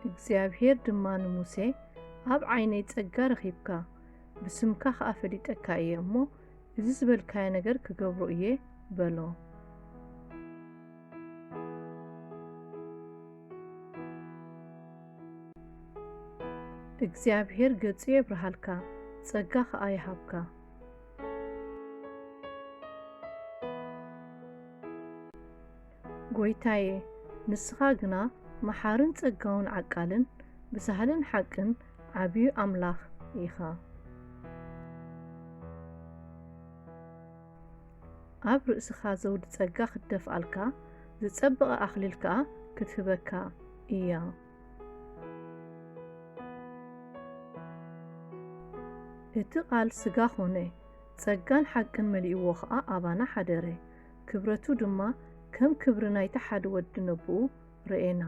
እግዚኣብሄር ድማ ንሙሴ ኣብ ዓይነይ ጸጋ ረኺብካ፣ ብስምካ ኸኣ ፈሊጠካ እየ እሞ፣ እዚ ዝበልካዮ ነገር ክገብሮ እየ በሎ። እግዚኣብሄር ገጹ የብርሃልካ፣ ጸጋ ኸኣ ይሃብካ። ጐይታየ፣ ንስኻ ግና መሓርን ጸጋውን ዓቃልን ብሳህልን ሓቅን ዓብዩ ኣምላኽ ኢኻ። ኣብ ርእስኻ ዘውዲ ጸጋ ክትደፍኣልካ፣ ዝጸበቐ ኣኽሊል ከኣ ክትህበካ ኢያ። እቲ ቓል ስጋ ዀነ፣ ጸጋን ሓቅን መሊእዎ ኸኣ ኣባና ሓደረ፣ ክብረቱ ድማ ከም ክብሪ ናይቲ ሓደ ወዲ ነቦኡ፣ ርኤና።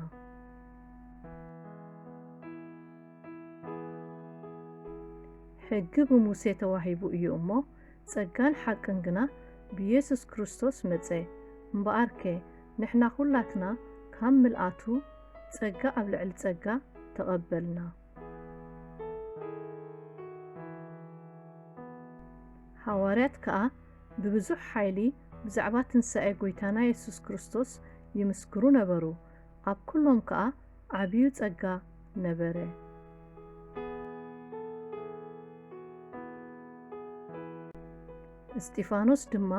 ሕጊ ብሙሴ ተዋሂቡ እዩ እሞ ጸጋን ሓቅን ግና ብየሱስ ክርስቶስ መጸ። እምበኣርከ ንሕና ዅላትና ካብ ምልኣቱ ጸጋ ኣብ ልዕሊ ጸጋ ተቐበልና። ሃዋርያት ከኣ ብብዙሕ ሓይሊ ብዛዕባ ትንሳኤ ጐይታና የሱስ ክርስቶስ ይምስክሩ ነበሩ፣ ኣብ ኵሎም ከኣ ዓብዩ ጸጋ ነበረ። እስጢፋኖስ ድማ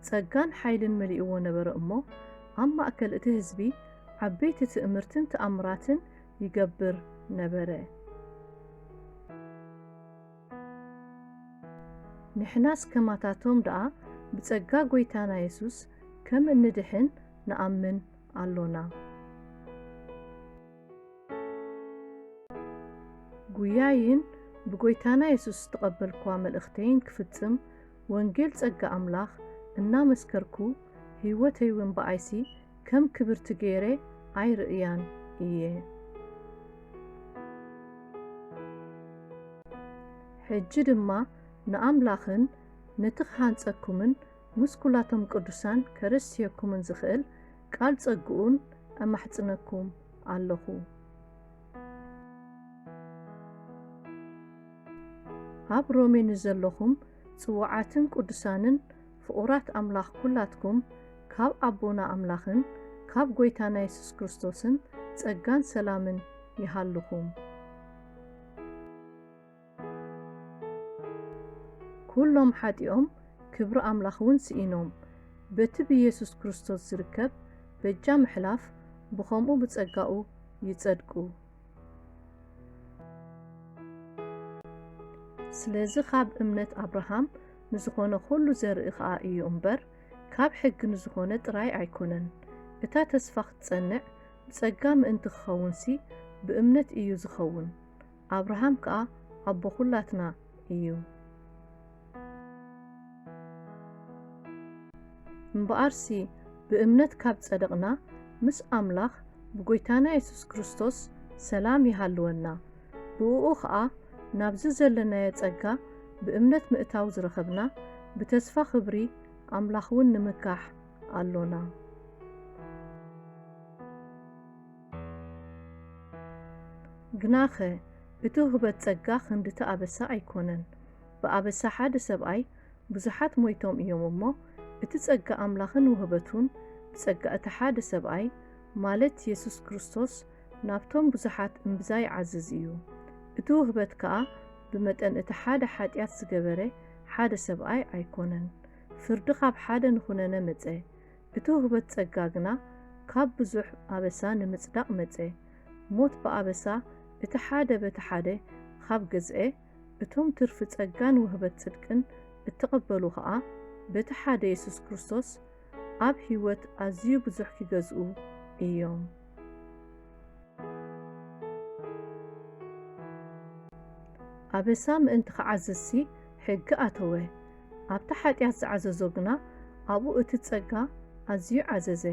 ጸጋን ሓይልን መሊእዎ ነበረ እሞ፣ ኣብ ማእከል እቲ ህዝቢ ዓበይቲ ትእምርትን ተኣምራትን ይገብር ነበረ። ንሕናስ ከማታቶም ደኣ ብጸጋ ጐይታና የሱስ ከም እንድሕን ንኣምን ኣሎና። ጕያይን ብጐይታና የሱስ ዝተቐበልክዋ መልእኽተይን ክፍጽም ወንጌል ጸጋ ኣምላኽ እናመስከርኩ ህይወተይውን ብኣይሲ ከም ክብርቲ ገይረ ኣይርእያን እየ። ሕጂ ድማ ንኣምላኽን ነቲ ክሃንጸኩምን ምስ ኩላቶም ቅዱሳን ከረስየኩምን ዝኽእል ቃል ጸግኡን እማሕጽነኩም ኣሎኹ። ኣብ ሮሜ ንዘሎኹም ጽዉዓትን ቅዱሳንን ፍቑራት ኣምላኽ ኩላትኩም ካብ ኣቦና ኣምላኽን ካብ ጎይታና የሱስ ክርስቶስን ጸጋን ሰላምን ይሃልኹም። ኩሎም ሓጢኦም ክብሪ ኣምላኽ እውን ስኢኖም በቲ ብየሱስ ክርስቶስ ዝርከብ በጃ ምሕላፍ ብኸምኡ ብጸጋኡ ይጸድቁ። ስለዚ ኻብ እምነት ኣብርሃም ንዝኾነ ኹሉ ዘርኢ ኸኣ እዩ እምበር፣ ካብ ሕጊ ንዝኾነ ጥራይ ኣይኮነን። እታ ተስፋ ክትጸንዕ ብጸጋ ምእንቲ ክኸውንሲ፣ ብእምነት እዩ ዝኸውን። ኣብርሃም ከኣ ኣቦ ኹላትና እዩ። እምበኣርሲ ብእምነት ካብ ጸደቕና፣ ምስ ኣምላኽ ብጐይታና የሱስ ክርስቶስ ሰላም ይሃልወና። ብእኡ ኸኣ ናብዚ ዘለናዮ ጸጋ ብእምነት ምእታው ዝረኸብና፣ ብተስፋ ኽብሪ ኣምላኽውን ንምካሕ ኣሎና። ግናኸ እቲ ውህበት ጸጋ ኽንድቲ ኣበሳ ኣይኰነን። ብኣበሳ ሓደ ሰብኣይ ብዙሓት ሞይቶም እዮም እሞ፣ እቲ ጸጋ ኣምላኽን ውህበቱን ብጸጋ እቲ ሓደ ሰብኣይ፣ ማለት የሱስ ክርስቶስ፣ ናብቶም ብዙሓት እምብዛ ይዓዝዝ እዩ። እቲ ውህበት ከኣ ብመጠን እቲ ሓደ ሓጢኣት ዝገበረ ሓደ ሰብኣይ ኣይኮነን። ፍርዲ ካብ ሓደ ንኹነነ መጸ። እቲ ውህበት ጸጋ ግና ካብ ብዙሕ ኣበሳ ንምጽዳቕ መጸ። ሞት ብኣበሳ እቲ ሓደ በቲ ሓደ ኻብ ገዝኤ፣ እቶም ትርፊ ጸጋን ውህበት ጽድቅን እተቐበሉ ኸኣ በቲ ሓደ የሱስ ክርስቶስ ኣብ ህይወት ኣዝዩ ብዙሕ ኪገዝኡ እዮም። ኣበሳ ምእንቲ ኺዓዝዝሲ ሕጊ ኣተወ፣ ኣብቲ ሓጢኣት ዝዓዘዞ ግና ኣብኡ እቲ ጸጋ ኣዝዩ ዓዘዘ።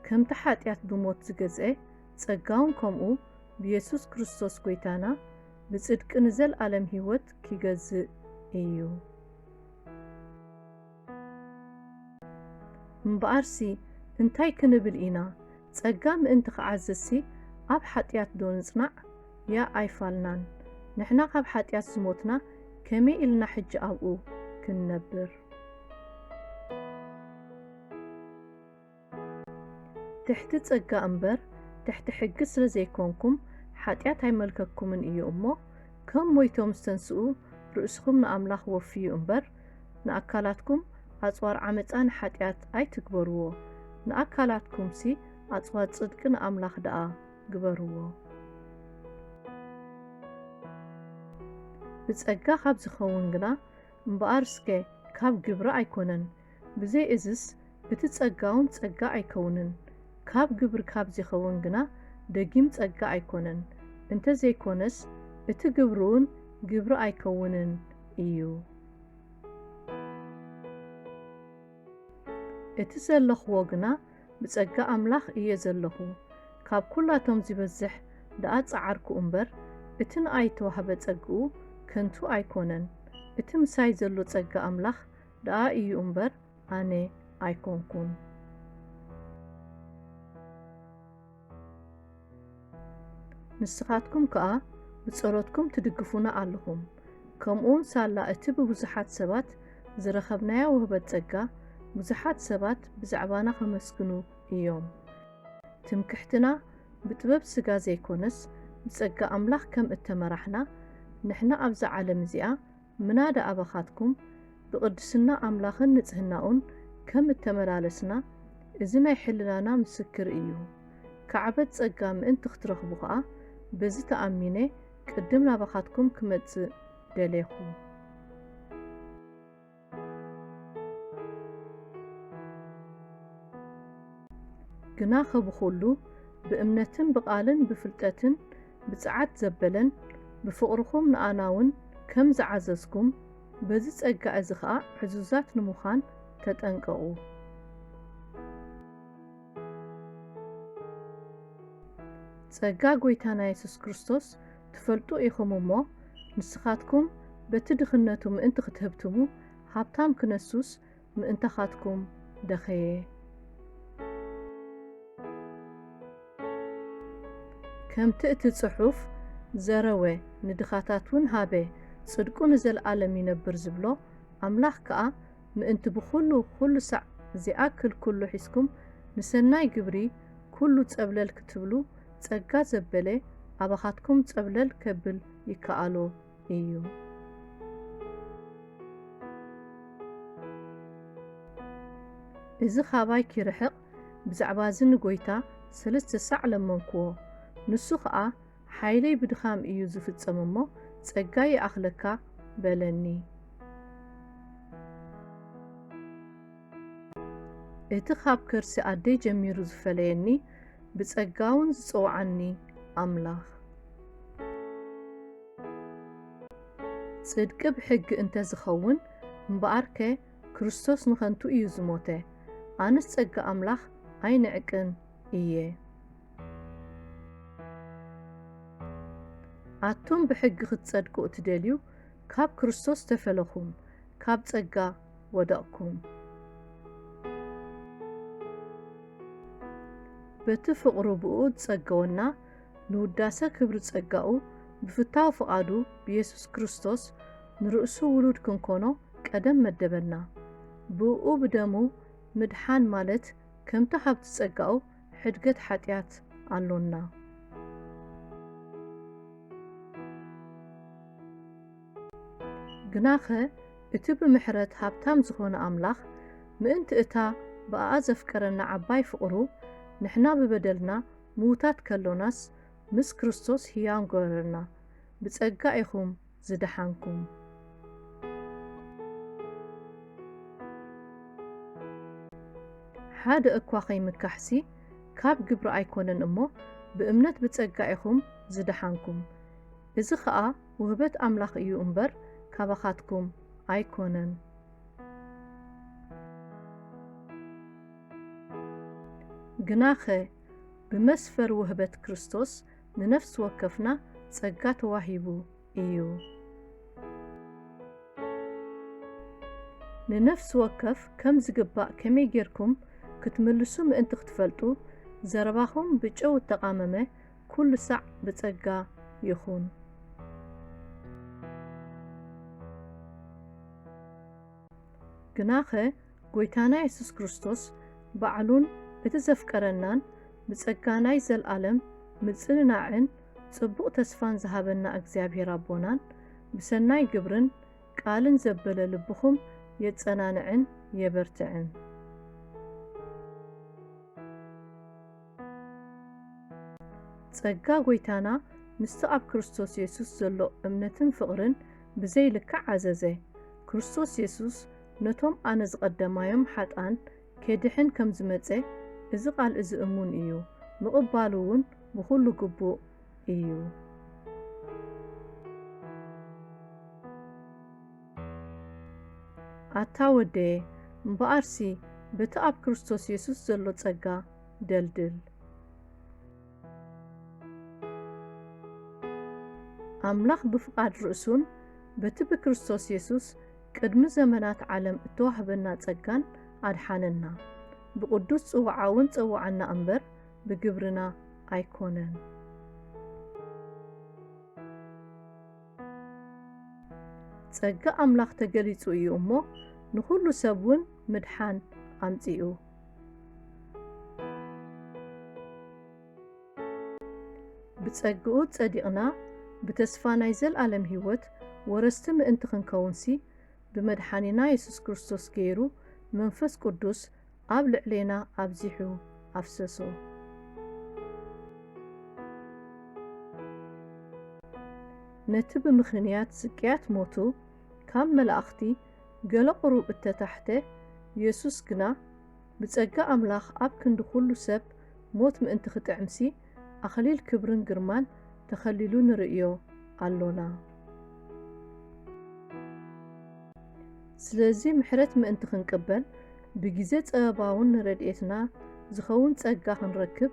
ከምቲ ሓጢኣት ብሞት ዝገዝኤ፣ ጸጋውን ከምኡ፣ ብየሱስ ክርስቶስ ጐይታና ብጽድቂ ንዘለኣለም ህይወት ኪገዝእ እዩ። እምበኣርሲ እንታይ ክንብል ኢና? ጸጋ ምእንቲ ኺዓዝዝሲ፣ ኣብ ሓጢኣትዶ ንጽናዕ? ያእ ኣይፋልናን! ንሕና ኻብ ሓጢኣት ዝሞትና፣ ከመይ ኢልና ሕጂ ኣብኡ ክንነብር? ትሕቲ ጸጋ እምበር ትሕቲ ሕጊ ስለ ዘይኮንኩም ሓጢኣት ኣይመልከኩምን እዩ እሞ ከም ሞይቶም ዝተንስኡ ርእስኹም ንኣምላኽ ወፍዩ እምበር ንኣካላትኩም ኣጽዋር ዓመጻ ንሓጢኣት ኣይትግበርዎ ንኣካላትኩምሲ ኣጽዋር ጽድቂ ንኣምላኽ ደኣ ግበርዎ። ብጸጋ ካብ ዝኸውን ግና እምበኣር እስከ ካብ ግብሪ ኣይኮነን ብዘይ እዝስ እቲ ጸጋውን ጸጋ ኣይከውንን፣ ካብ ግብሪ ካብ ዚኸውን ግና ደጊም ጸጋ ኣይኮነን፣ እንተ ዘይኮነስ እቲ ግብሪውን ግብሪ ኣይከውንን እዩ። እቲ ዘለኽዎ ግና ብጸጋ ኣምላኽ እየ ዘለኹ፣ ካብ ኩላቶም ዚበዝሕ ደኣ ጸዓርኩ እምበር፣ እቲ ንኣይ እተዋህበ ጸግኡ ከንቱ ኣይኮነን፣ እቲ ምሳይ ዘሎ ጸጋ ኣምላኽ ደኣ እዩ እምበር ኣነ ኣይኮንኩን። ንስኻትኩም ከኣ ብጸሎትኩም ትድግፉና ኣለኹም። ከምኡውን ሳላ እቲ ብብዙሓት ሰባት ዝረኸብናዮ ውህበት ጸጋ፣ ብዙሓት ሰባት ብዛዕባና ከመስግኑ እዮም። ትምክሕትና ብጥበብ ስጋ ዘይኮነስ ብጸጋ ኣምላኽ ከም እተመራሕና፣ ንሕና ኣብዛ ዓለም እዚኣ ምናዳ ኣባኻትኩም ብቕድስና ኣምላኽን ንጽህናኡን ከም እተመላለስና እዚ ናይ ሕልናና ምስክር እዩ። ካዕበት ጸጋ ምእንቲ ክትረኽቡ ኸኣ በዚ ተኣሚነ ቅድም ናባኻትኩም ክመጽእ ደሌኹ። ግናኸ ብኹሉ ብእምነትን ብቓልን ብፍልጠትን ብጽዓት ዘበለን ብፍቕርኹም ንኣናውን ከም ዝዓዘዝኩም በዚ ጸጋ እዚ ኸኣ ዕዙዛት ንምዃን ተጠንቀቑ። ጸጋ ጐይታና የሱስ ክርስቶስ ትፈልጡ ኢኹም እሞ፣ ንስኻትኩም በቲ ድኽነቱ ምእንቲ ኽትህብትሙ፣ ሃብታም ክነሱስ ምእንታኻትኩም ደኸየ። ከምቲ እቲ ጽሑፍ ዘረወ ንድኻታት ውን ሃበ ጽድቁ ንዘልኣለም ይነብር ዝብሎ፣ ኣምላኽ ከኣ ምእንቲ ብኹሉ ኩሉ ሳዕ ዚኣክል ኩሉ ሒዝኩም ንሰናይ ግብሪ ኩሉ ጸብለል ክትብሉ ጸጋ ዘበለ ኣባኻትኩም ጸብለል ከብል ይከኣሎ። እዩ። እዚ ኻባይ ኪርሕቕ ብዛዕባ እዚ ንጐይታ ሰለስተ ሳዕ ለመንክዎ። ንሱ ኸኣ ሓይለይ ብድኻም እዩ ዚፍጸም እሞ፣ ጸጋይ ይኣኽለካ በለኒ። እቲ ኻብ ከርሲ ኣደይ ጀሚሩ ዝፈለየኒ ብጸጋውን ዝጸውዓኒ ኣምላኽ። ጽድቂ ብሕጊ እንተ ዝኸውን እምበኣርከ ክርስቶስ ንኸንቱ እዩ ዝሞተ፣ ኣነስ ጸጋ ኣምላኽ ኣይንዕቅን እየ። ኣቱም ብሕጊ ኽትጸድቁ እትደልዩ፣ ካብ ክርስቶስ ተፈለኹም፣ ካብ ጸጋ ወደቕኩም። በቲ ፍቕሩ ብእኡ ዝጸገወና ንውዳሰ ክብሪ ጸጋኡ ብፍታው ፍቓዱ ብየሱስ ክርስቶስ ንርእሱ ውሉድ ክንኮኖ ቀደም መደበና። ብእኡ ብደሙ ምድሓን ማለት ከምቲ ሃብቲ ጸጋኡ ሕድገት ሓጢኣት ኣሎና። ግናኸ እቲ ብምሕረት ሃብታም ዝኾነ ኣምላኽ፣ ምእንቲ እታ ብኣኣ ዘፍቀረና ዓባይ ፍቕሩ፣ ንሕና ብበደልና ምዉታት ከሎናስ፣ ምስ ክርስቶስ ህያው ገበረና። ብጸጋ ኢኹም ዝደሓንኩም። ሓደ እኳ ኸይምካሕሲ ካብ ግብሪ ኣይኮነን እሞ፣ ብእምነት ብጸጋ ኢኹም ዝደሓንኩም። እዚ ኸኣ ውህበት ኣምላኽ እዩ እምበር ካባኻትኩም ኣይኮነን። ግናኸ ብመስፈር ውህበት ክርስቶስ ንነፍሲ ወከፍና ጸጋ ተዋሂቡ እዩ። ንነፍሲ ወከፍ ከም ዝግባእ ከመይ ጌርኩም ክትምልሱ ምእንቲ ክትፈልጡ፣ ዘረባኹም ብጨው እተቓመመ ኩሉ ሳዕ ብጸጋ ይኹን። ግናኸ ጐይታና የሱስ ክርስቶስ ባዕሉን እቲ ዘፍቀረናን ብጸጋ ናይ ዘልኣለም ምጽንናዕን ጽቡቕ ተስፋን ዝሃበና እግዚኣብሔር ኣቦናን ብሰናይ ግብርን ቃልን ዘበለ ልብኹም የጸናንዕን የበርትዕን። ጸጋ ጐይታና ምስቲ ኣብ ክርስቶስ የሱስ ዘሎ እምነትን ፍቕርን ብዘይ ልክዕ ዓዘዘ። ክርስቶስ የሱስ ነቶም ኣነ ዝቐደማዮም ሓጥኣን ኬድሕን ከም ዝመጸ እዚ ቓል እዚ እሙን እዩ፣ ምቕባሉ እውን ብዅሉ ግቡእ እዩ። ኣታ ወደየ፣ እምበኣርሲ በቲ ኣብ ክርስቶስ የሱስ ዘሎ ጸጋ፣ ደልድል። ኣምላኽ ብፍቓድ ርእሱን በቲ ብክርስቶስ የሱስ ቅድሚ ዘመናት ዓለም እተዋህበና ጸጋን ኣድሓነና። ብቕዱስ ጽውዓኡውን ጸውዓና እምበር ብግብርና ኣይኮነን። ጸጋ ኣምላኽ ተገሊጹ እዩ እሞ ንኹሉ ሰብውን ምድሓን ኣምጺኡ። ብጸግኡ ጸዲቕና ብተስፋ ናይ ዘልኣለም ሕይወት ወረስቲ ምእንቲ ክንከውንሲ ብመድሓኒና የሱስ ክርስቶስ ገይሩ መንፈስ ቅዱስ ኣብ ልዕሌና ኣብዚሑ ኣፍሰሶ። ነቲ ብምኽንያት ስቅያት ሞቱ ካብ መላእኽቲ ገለ ቁሩብ እተታሕተ፣ የሱስ ግና፣ ብጸጋ ኣምላኽ ኣብ ክንዲ ኩሉ ሰብ ሞት ምእንቲ ክጥዕምሲ፣ ኣኽሊል ክብርን ግርማን ተኸሊሉ ንርእዮ ኣሎና። ስለዚ ምሕረት ምእንቲ ክንቅበል፣ ብግዜ ጸበባውን ንረድኤትና ዝኸውን ጸጋ ክንረክብ፣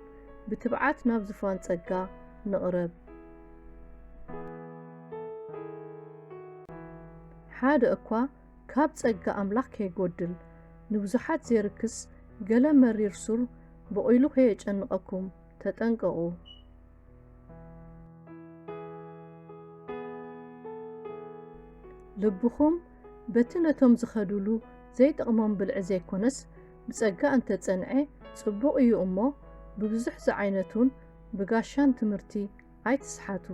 ብትብዓት ናብ ዝፋን ጸጋ ንቕረብ። ሓደ እኳ ካብ ጸጋ ኣምላኽ ከይጎድል፣ ንብዙሓት ዜርክስ ገለ መሪር ሱር ቦቒሉ ከየጨንቐኩም ተጠንቀቑ። ልብኹም በቲ ነቶም ዚኸዱሉ ዘይጠቕሞም ብልዒ ዘይኮነስ፣ ብጸጋ እንተ ጸንዔ ጽቡቕ እዩ እሞ፣ ብብዙሕ ዝዓይነቱን ብጋሻን ትምህርቲ ኣይትስሓቱ።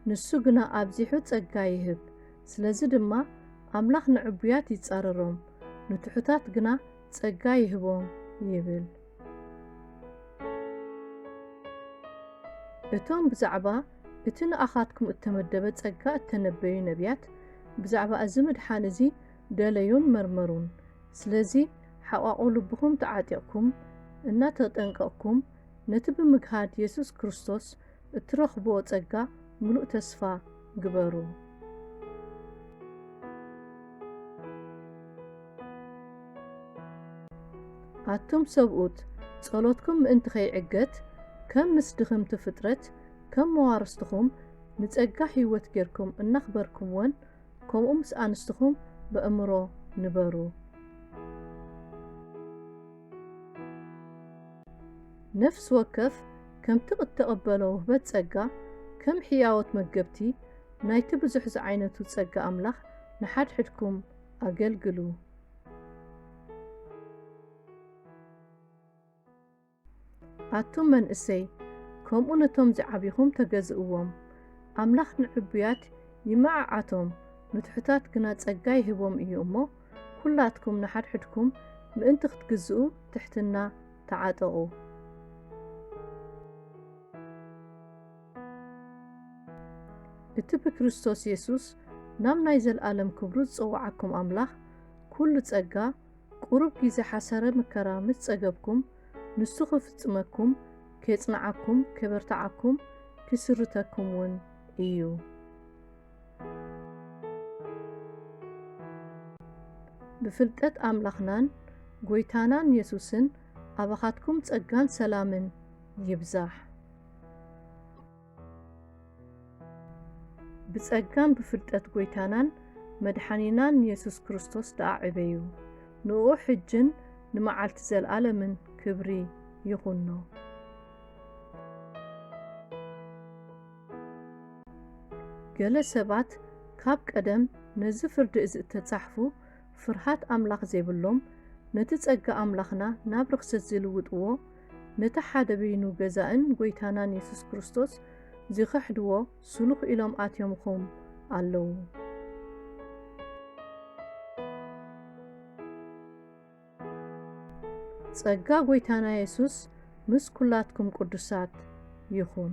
ንሱ ግና ኣብዚሑ ጸጋ ይህብ። ስለዚ ድማ ኣምላኽ ንዕቡያት ይጻረሮም፣ ንትሑታት ግና ጸጋ ይህቦም ይብል። እቶም ብዛዕባ እቲ ንኣኻትኩም እተመደበ ጸጋ እተነበዩ ነብያት፣ ብዛዕባ እዚ ምድሓን እዚ ደለዩን መርመሩን። ስለዚ ሓቛቝ ልብኹም ተዓጢቕኩም፣ እናተጠንቀቕኩም፣ ነቲ ብምግሃድ የሱስ ክርስቶስ እትረኽብዎ ጸጋ ምሉእ ተስፋ ግበሩ። ኣቱም ሰብኡት፣ ጸሎትኩም ምእንቲ ኸይዕገት፣ ከም ምስ ድኽምቲ ፍጥረት፣ ከም መዋርስትኹም ንጸጋ ህይወት ጌርኩም እናኽበርኩምወን፣ ከምኡ ምስ ኣንስትኹም በእምሮ ንበሩ። ነፍሲ ወከፍ ከምቲ እተቐበሎ ውህበት ጸጋ፣ ከም ሕያዎት መገብቲ ናይቲ ብዙሕ ዝዓይነቱ ጸጋ ኣምላኽ ንሓድሕድኩም ኣገልግሉ። ኣቱም መንእሰይ፣ ከምኡ ነቶም ዚዓብኹም ተገዝእዎም። ኣምላኽ ንዕቡያት ይመዓዓቶም፣ ንትሑታት ግና ጸጋ ይህቦም እዩ እሞ፣ ኩላትኩም ንሓድሕድኩም ምእንቲ ክትግዝኡ ትሕትና ተዓጠቑ። እቲ ብክርስቶስ የሱስ ናብ ናይ ዘልኣለም ክብሩ ዝጸውዓኩም ኣምላኽ ኩሉ ጸጋ ቁሩብ ጊዜ ሓሰረ ምከራ ምስ ጸገብኩም ንሱ ክፍጽመኩም ኬጽንዓኩም ኬበርትዓኩም ኪስርተኩም ውን እዩ። ብፍልጠት ኣምላኽናን ጎይታናን የሱስን ኣባኻትኩም ጸጋን ሰላምን ይብዛሕ። ብጸጋን ብፍልጠት ጎይታናን መድሓኒናን የሱስ ክርስቶስ ደኣ ዕበዩ፣ ንእኡ ሕጅን ንመዓልቲ ዘልኣለምን ክብሪ ይኹኖ። ገለ ሰባት ካብ ቀደም ነዚ ፍርዲ እዚ እተጻሕፉ ፍርሃት ኣምላኽ ዜብሎም ነቲ ጸጋ ኣምላኽና ናብ ርኽሰት ዚልውጥዎ ነቲ ሓደ በይኑ ገዛእን ጐይታናን የሱስ ክርስቶስ ዚኽሕድዎ ስሉኽ ኢሎም ኣትዮምኹም ኣለዉ። ጸጋ ጎይታና የሱስ ምስ ኩላትኩም ቅዱሳት ይኹን።